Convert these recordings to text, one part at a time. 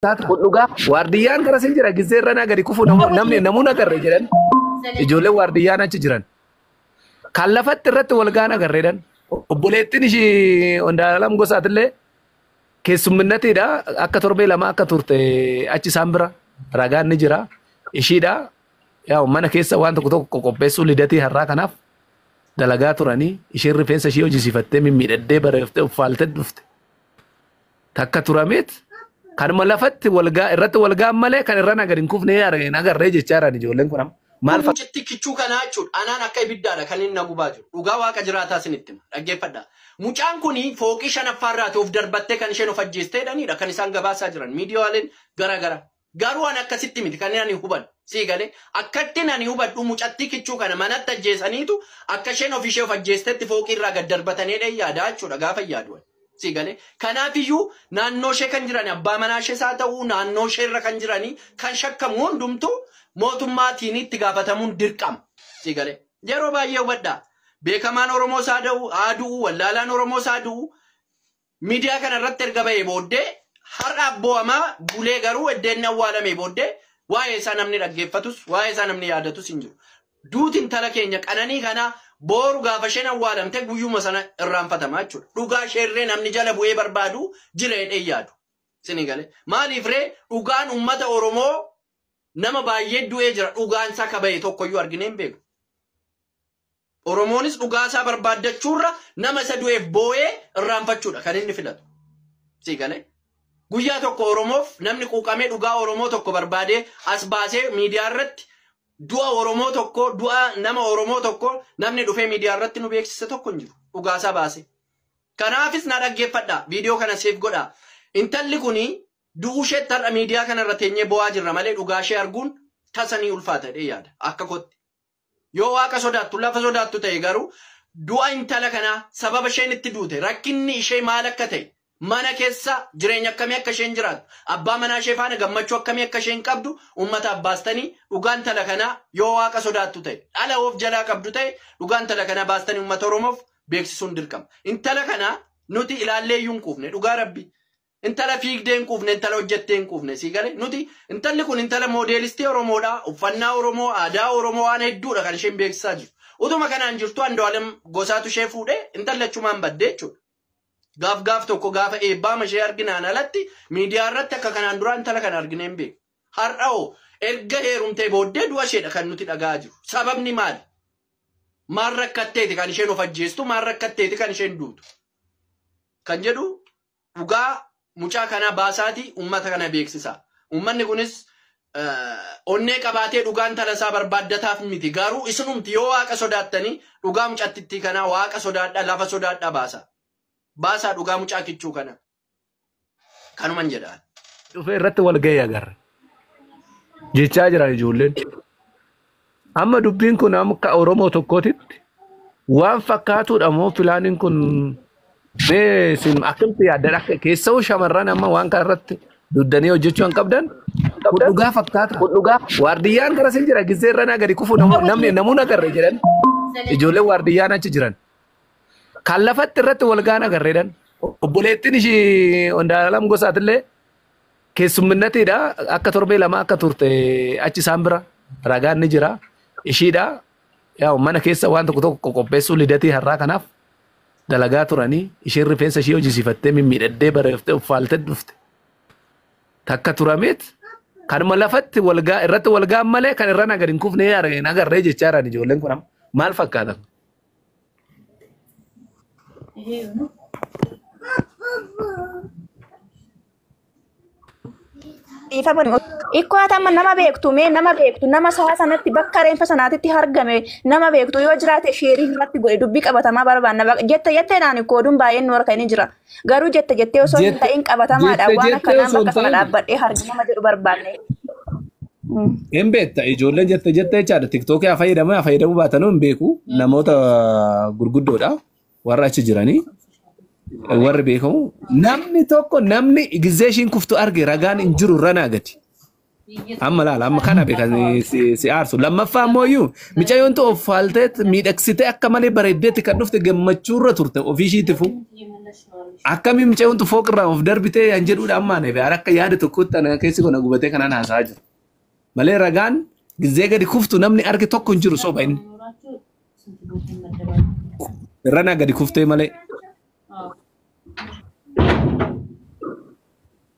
taate kun dhugaa waardiyyaan kanas hin jira gizzee irra naa gadi kufu namu- namni namuu nagarre jedhan ijoolleen waardiyyaan achi jiran kan lafatti irratti walgaa nagarreedhan obboleettiin ishii Ondaalam Gosaatillee keessumminatiidha akka torbee lama akka turte achi isaan bira ragaan ni jira ishiidha yaa mana keessa waan tokko tokko qopheessuu lidatii har'aa kanaaf dalagaa turanii ishiin rifeensa ishii hojisiifattee mimmiidhaddee bareeftee uffaaltee dhufte takka turameet kanuma lafatti walgaa irratti walgaan malee kan irra nagar hin kufne yaara hin agarree jechaa jiran ijoolleen kun amma maal Kun mucitti kichuu kanaa jechuudha. Anaan akka ibiddaadha kan inni na gubaa jiru. Dhugaa waaqa jiraataa isinitti hima. Dhaggeeffadha. Mucaan kun fooqii shanaffaa irraati of darbattee kan isheen of ajjeestee jedhanidha kan isaan gabaasaa jiran. Miidiyaaleen garaagaraa. Garuu an akkasitti miti kanin ani hubadhu. Sii galee? Akkattin ani hubadhu mucattii kichuu kana manatti ajjeesaniitu akka isheen ofii ishee of ajjeestetti fooqii irraa gad darbatan jedheen yaada jechuudha gaafan yaadu ani. Sii galee? Kanaafiyyuu naannoo ishee kan jiran abbaa manaa ishees haa ta'uu naannoo ishee irra kan jiranii kan shakkamu hundumtuu mootummaatiin itti gaafatamuun dirqama. Sii galee? Yeroo baay'ee hubadhaa. Beekamaan Oromoos haa da'u, haa du'u, wallaalaan Oromoos haa du'u, Miidiyaa kana irratti erga ba'ee booddee har'a abboo'amaa bulee garuu edda inni awwaalamee booddee waa'ee isaa namni dhaggeeffatus waa'ee isaa namni yaadatus hin jiru. Duuti intala keenya qananii kanaa booru gaafa isheen awwaalamte guyyuma sana irraanfatama jechuudha. Dhugaa isheerree namni jala bu'ee barbaadu jira jedhee yaadu. Isinii galee. Maaliif ree dhugaan uummata Oromoo nama baay'ee du'ee jira dhugaan isaa kaba'e tokkoyyuu arginee hin beeku. Oromoonis dhugaasaa barbaaddachuurra nama isa du'eef booyee irraanfachuudha kan inni filatu. Sii galee? Guyyaa tokko Oromoof namni quuqamee dhugaa Oromoo tokko barbaadee as baasee miidiyaa irratti du'a Oromoo tokko, du'a nama Oromoo tokko namni dhufee miidiyaa irratti nu beeksise tokko hin jiru. Dhugaasaa baasee. Kanaafis na dhaggeeffadhaa. Viidiyoo kana seef godhaa. Intalli kuni du'uu isheetti har'a miidiyaa kana irra teenyee bo'aa jirra malee dhugaa ishee arguun tasa ni ulfaata jedhee yaada. Akka kootti. Yoo Waaqa sodaattu, lafa sodaattu ta'e garuu du'a intala kanaa, sababa isheen itti duute, rakkinni ishee maal akka ta'e, mana keessa jireenya akkamii akka isheen jiraattu, abbaa manaa ishee faana gammachuu akkamii akka isheen qabdu uummataaf baastanii dhugaa intala kanaa yoo Waaqa sodaattu ta'e, dhala of jalaa qabdu ta'e dhugaa intala kanaa baastanii uummata Oromoof beeksisuun dirqama. Intala kana nuti ilaallee iyyuu hin quufne dhugaa Rabbii. Intala fiigdee hin quufne, intala hojjettee hin quufne. Sii galee? Nuti intalli kun intala moodeelistii Oromoodha. Uffannaa Oromoo, aadaa Oromoo waan hedduudha kan isheen beeksisaa jirtu. Utuma kanaan jirtuu Andu'aalem Gosaatu ishee fuudhee intalli achumaan badde jechuudha. Gaaf gaaf tokko gaafa eebbaama ishee arginaan alatti miidiyaa irratti akka kanaan duraa intala kana arginee hin beeku. Har'a hoo erga heerumtee booddee du'a isheedha kan nuti dhaga'aa jiru. Sababni maali? Maal rakkatteeti kan isheen of ajjeestu? Maal rakkatteeti kan isheen duutu? Kan jedhu Dhugaa mucaa kanaa baasaati ummata kana beeksisaa. Ummanni kunis onnee qabaatee dhugaa intala isaa barbaaddataaf miti. Garuu isinumti yoo waaqa sodaattanii dhugaa mucattittii kanaa waaqa sodaadhaa lafa sodaadhaa baasaa. Baasaa dhugaa mucaa kichuu kana. Kanuman jedha ani. dhufee irratti wal ga'ee agarre jechaa jiran ijoolleen. Amma dubbiin kun akka Oromoo tokkootitti waan fakkaatuudha moo filaaniin kun mee isin akkamitti yaaddan akka keessa'uu shamarran amma waan kana irratti duddanii hojjechuu hin qabdan kun dhugaa fakkaata. Waardiyyaan gara sin jira gisee irra naa gadi kufu namni namuu nagarre jedhan ijoolleen waardiyyaan achi jiran kan lafatti irratti walgaan agarreedhan obboleettiin ishii Ondaalam gosaatillee Keessumminatiidha. Akka torbee lama akka turte achi isaan bira ragaan ni jira. Ishiidha. Yaa mana keessa waan tokko tokko qopheessuu lidatii har'aa kanaaf dalagaa turanii isheen rifeensa ishee hojisiifattee mimmiidhaddee bareeftee uffaaltee dhufte. Takka turameet kanuma lafatti walgaa irratti walgaan malee kan irra nagar hin kufne hin agarree jechaa jiran ijoolleen kun amma. maal fakkaatan? dhiifama ikkoo hatamma nama beektu mee nama beektu nama sa'a sanatti bakka reenfa sanaatitti argame nama beektu yoo jiraate sheerii irratti godhe dubbii qabatamaa barbaanna Baq- jette jetteenaan ikkoo oduun baay'een nu harka inni jira Garuu jette jettee osoo hin Jette- ta'in qabatamaadha. jette Waan jettee akkanaan osoo bakka hin sana ta'in- dhaabbadhee hargi nama jedhu barbaanne. Hin beekta ijoolleen jette jette jechaadha tiktookii haa fayyadamu haa fayyadamuu baatanuu hin beeku namoota gurguddoodha warra achi jiranii warri beekamu namni tokko namni gizee ishiin kuftu arge ragaan hin jiru ranaa gati Amma laala amma kana beekan si si aarsu. Lammaffaa ammoo iyyuu micayyoon tu of faaltee miidhagsitee akka malee bareeddeetti kan dhufte gammachuu irra turte ofii ishiitifu. Akkamiin micayyoon tu fooqirraa of darbitee kan jedhuudha amma ani beekan akka yaada tokkootti ana keessi koo na gubatee kanaan haasa'aa jiru. Malee ragaan gizee gadi kuftu namni arge tokko hin jiru soba inni. Irra naa gadi kuftee malee.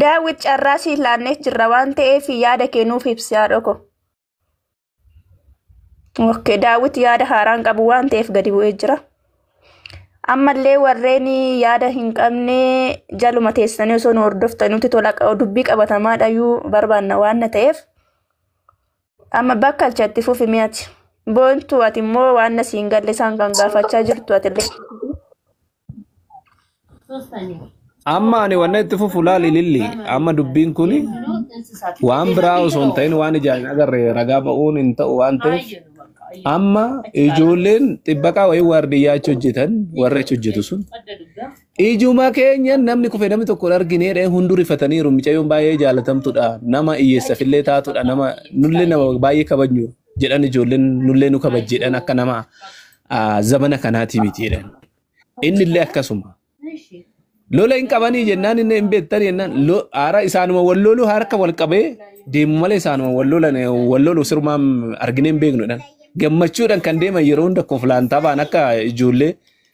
Daawwit carraa siif laannee jirra waan ta'eef yaada kee nuuf ibsi haadhoo koo. Ok, daawwit yaada haaraan qabu waan ta'eef gadi bu'ee jira. Ammallee warreen yaada hin qabne jaluma teessanii osoo nu hordoftan nuti tola dubbii qabatamaadhayyuu barbaanna waan ta'eef. Amma bakka alchatti fufi mi'ati. Boontuu ati immoo waan na siin galle isaan kan gaafachaa jirtu ati illee. Amma ani wanna itti fufu laali lilli. Amma dubbiin kun waan biraa osoo hin ta'in waan ijaan hin agarre ragaa ba'uun hin ta'u waan ta'eef amma ijoolleen xibbaqaa wayii waardiyyaa achi hojjetan warri achi hojjetu sun Ijuma keenya namni kufe namni tokko hin argine dhee hunduu rifataniiru mucayyoon baay'ee jaalatamtudha nama hiyyeessafillee taatudha nama nullee nama baay'ee kabajnu jedhan ijoolleen nullee nu kabaj jedhan akka nama ah, zamana kanaati miti jedhan innillee akkasuma lola hin qabanii jennaan inni hin beektan jennaan lo- haara isaanuma wal lolu harka wal qabee deemu malee isaanuma wal lolan wal lolu sirumaan arginee hin beeknudhaan gammachuudhaan kan deeman yeroo hunda koflaan taphatan akka ijoollee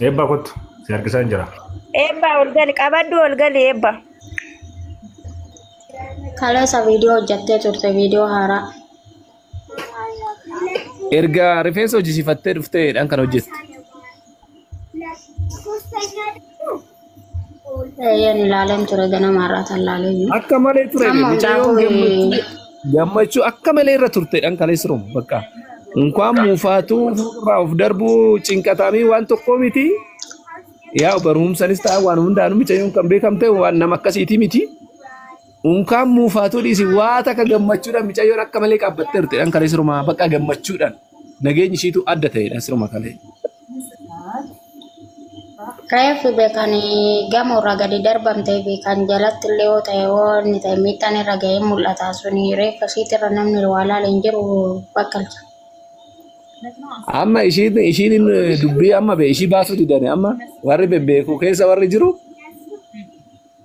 Eebbaa kottu si harkisaan jira. Eebba ol gali qabaddu ol gali eebba. Kaleessa viidiyoo hojjattee turte viidiyoo haaraa. Erga rifeensa hojjisiifattee dhufteedhaan kan hojjette. Eeyyeen ilaaleen ture ganama irraa kan ilaaleen jiru. Akka malee ture Amma mucayyoon hundaafuu gammachuu eh, gammachuu akka malee irra turte dhan kaleessa romu bakka. Inkwaan muufaatuu irraa of darbuu cinqataamii waan tokkoo miti. Yaa barumsanis ta'a waan hundaanuu mucayyoon kan beekamte waan nama akkasiitii miti. Unkaan muufaatuu dhiisi waa takka gammachuudhaan mucayyoon akka malee qaabbattee turte dhan kaleessa romaa bakka gammachuudhaan nageenyi ishiitu adda ta'e dhan siruma kalee. Reefu beekan gamoo irraa gadi darbamtee fi kan jalatti illee yoo ta'e yoo inni ta'e miidhaan irra ga'ee mul'ata suni reeffa ishiitti irra namni waa laale hin jiru bakkalcha. Amma ishiin ishiin dubbii amma bee ishii baasuu didani amma warri bebbeeku keessa warri jiru